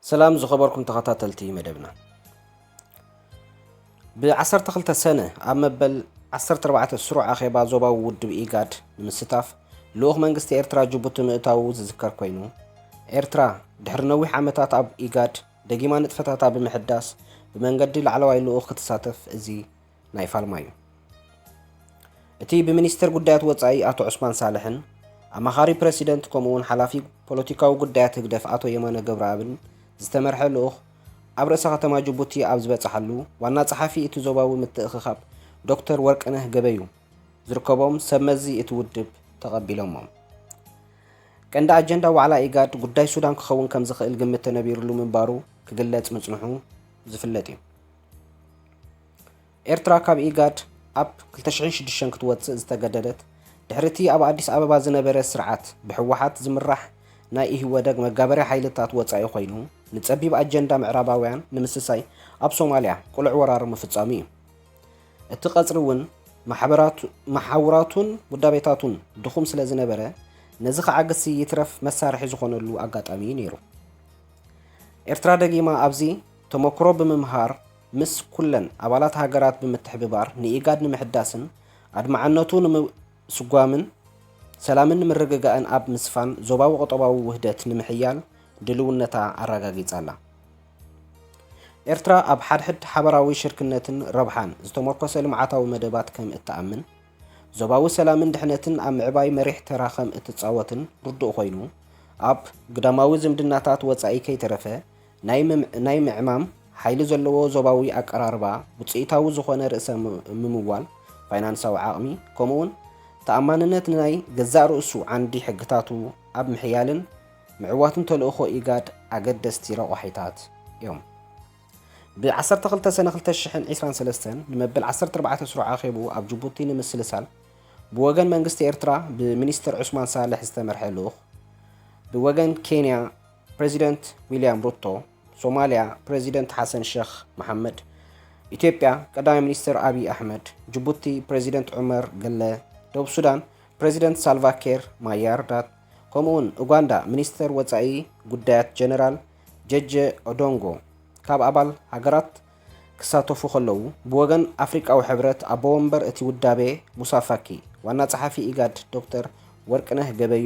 ሰላም ዝኸበርኩም ተኸታተልቲ መደብና ብ12 ሰነ ኣብ መበል 14 ስሩዕ ኣኼባ ዞባዊ ውድብ ኢጋድ ንምስታፍ ልኡኽ መንግስቲ ኤርትራ ጅቡቲ ምእታዉ ዝዝከር ኮይኑ ኤርትራ ድሕሪ ነዊሕ ዓመታት ኣብ ኢጋድ ደጊማ ንጥፈታታ ብምሕዳስ ብመንገዲ ላዕለዋይ ልኡኽ ክትሳተፍ እዚ ናይ ፋልማዩ። እቲ ብሚኒስትር ጉዳያት ወጻኢ ኣቶ ዑስማን ሳልሕን ኣማኻሪ ፕረሲደንት ከምኡ'ውን ሓላፊ ፖለቲካዊ ጉዳያት ህግደፍ ኣቶ የማነ ገብረኣብን ዝተመርሐ ልኡኽ ኣብ ርእሰ ከተማ ጅቡቲ ኣብ ዝበጸሓሉ ዋና ጸሓፊ እቲ ዞባዊ ምትእኽኻብ ዶክተር ወርቅነህ ገበዩ ዝርከቦም ሰብ መዚ እቲ ውድብ ተቐቢሎሞም። ቀንዲ ኣጀንዳ ዋዕላ ኢጋድ ጉዳይ ሱዳን ክኸውን ከምዝኽእል ግምት ተነቢርሉ ምንባሩ ክግለጽ ምጽንሑ ዝፍለጥ እዩ። ኤርትራ ካብ ኢጋድ ኣብ ክልተ ሽሕን ሽዱሽተን ክትወጽእ ዝተገደደት፣ ድሕሪ እቲ ኣብ ኣዲስ ኣበባ ዝነበረ ስርዓት ብህወሓት ዝምራሕ ናይ ኢህወደግ መጋበርያ ሓይልታት ወጻኢ ኮይኑ፣ ንጸቢብ ኣጀንዳ ምዕራባውያን ንምስሳይ ኣብ ሶማልያ ቅሉዕ ወራር ምፍጻሙ እዩ። እቲ ቀጽሪ እውን መሓውራቱን ውዳቤታቱን ድኹም ስለ ዝነበረ፣ ነዚ ክዓግትሲ ይትረፍ መሳርሒ ዝኾነሉ ኣጋጣሚ እዩ ነይሩ። ኤርትራ ደጊማ ኣብዚ ተሞክሮ ብምምሃር ምስ ኩለን ኣባላት ሃገራት ብምትሕብባር ንኢጋድ ንምሕዳስን ኣድማዕነቱ ንምስጓምን ሰላምን ንምርግጋእን ኣብ ምስፋን ዞባዊ ቁጠባዊ ውህደት ንምሕያል ድልውነታ ኣረጋጊጻ ኣላ። ኤርትራ ኣብ ሓድሕድ ሓበራዊ ሽርክነትን ረብሓን ዝተሞርኮሰ ልምዓታዊ መደባት ከም እትኣምን፣ ዞባዊ ሰላምን ድሕነትን ኣብ ምዕባይ መሪሕ ተራ ከም እትጻወትን ርዱእ ኮይኑ፣ ኣብ ግዳማዊ ዝምድናታት ወጻኢ ከይተረፈ ናይ ምዕማም ሓይሊ ዘለዎ ዞባዊ ኣቀራርባ፣ ውጽኢታዊ ዝኾነ ርእሰ ምምዋል፣ ፋይናንሳዊ ዓቕሚ፣ ከምኡ'ውን ተኣማንነት ንናይ ገዛእ ርእሱ ዓንዲ ሕግታቱ ኣብ ምሕያልን ምዕዋትን ተልእኾ ኢጋድ ኣገደስቲ ረቋሒታት እዮም። ብ ዓሰርተ ክልተ ሰነ ክልተ ሽሕን ዒስራን ሰለስተን ንመበል ዓሰርተ ኣርባዕተ ስሩዕ ኣኼብኡ ኣብ ጅቡቲ ንምስልሳል ብወገን መንግስቲ ኤርትራ ብሚኒስተር ዑስማን ሳልሕ ዝተመርሐ ልኡኽ ብወገን ኬንያ ፕረዚደንት ዊልያም ሩቶ፣ ሶማልያ ፕረዚደንት ሓሰን ሸኽ መሓመድ፣ ኢትዮጵያ ቀዳማይ ሚኒስትር ኣብዪ ኣሕመድ፣ ጅቡቲ ፕረዚደንት ዑመር ገለ፣ ደቡብ ሱዳን ፕረዚደንት ሳልቫኬር ማያርዳት፣ ከምኡ'ውን ኡጋንዳ ሚኒስተር ወጻኢ ጉዳያት ጀነራል ጀጀ ኦዶንጎ ካብ ኣባል ሃገራት ክሳተፉ ከለዉ፣ ብወገን ኣፍሪቃዊ ሕብረት ኣቦ ወንበር እቲ ውዳቤ ሙሳ ፋኪ፣ ዋና ጸሓፊ ኢጋድ ዶክተር ወርቅነህ ገበዩ፣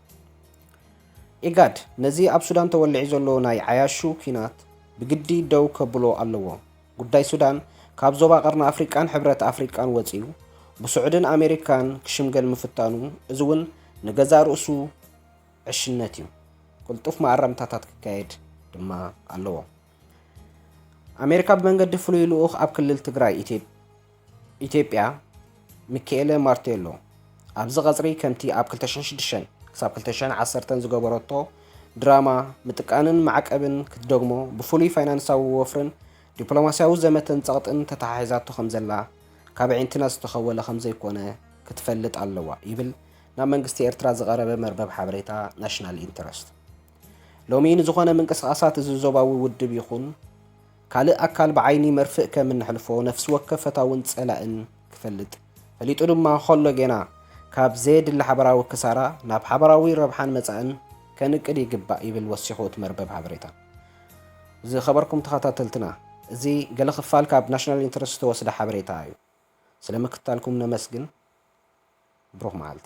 ኢጋድ ነዚ ኣብ ሱዳን ተወሊዑ ዘሎ ናይ ዓያሹ ኲናት ብግዲ ደው ከብሎ ኣለዎ። ጉዳይ ሱዳን ካብ ዞባ ቀርኒ ኣፍሪቃን ሕብረት ኣፍሪቃን ወጺኡ ብስዑድን ኣሜሪካን ክሽምገል ምፍታኑ እዚ እውን ንገዛእ ርእሱ ዕሽነት እዩ። ቅልጡፍ መኣረምታታት ክካየድ ድማ ኣለዎ። ኣሜሪካ ብመንገዲ ፍሉይ ልኡኽ ኣብ ክልል ትግራይ ኢትዮጵያ ኢትዮጵያ፣ ሚኪኤለ ማርቴሎ፣ ኣብዚ ቀጽሪ ከምቲ ኣብ ክልተ ሽሕን ሽዱሽተን ክሳብ ክልተ ሽሕን ዓሰርተን ዝገበረቶ ድራማ ምጥቃንን ማዕቀብን ክትደግሞ ብፍሉይ ፋይናንሳዊ ወፍርን ዲፕሎማስያዊ ዘመተን ጸቕጥን ተተሓሒዛቶ ከምዘላ ካብ ኣዒንትና ዝተኸወለ ከምዘይኮነ ክትፈልጥ ኣለዋ ይብል ናብ መንግስቲ ኤርትራ ዝቐረበ መርበብ ሓበሬታ ናሽናል ኢንተረስት። ሎሚ ንዝኾነ ምንቅስቓሳት እዚ ዞባዊ ውድብ ይኹን ካልእ ኣካል ብዓይኒ መርፍእ ከም እንሕልፎ ነፍሲ ወከፍ ፈታውን ጸላእን ክፈልጥ፣ ፈሊጡ ድማ ኸሎ ጌና ካብ ዘየድሊ ሓበራዊ ክሳራ ናብ ሓበራዊ ረብሓን መጻእን ከንቅል ይግባእ ይብል ወሲኹ እቲ መርበብ ሓበሬታ። ዝኸበርኩም ተኸታተልትና እዚ ገለ ክፋል ካብ ናሽናል ኢንተረስት ዝተወስደ ሓበሬታ እዩ። ስለ ምክትታልኩም ነመስግን። ብሩኽ መዓልቲ።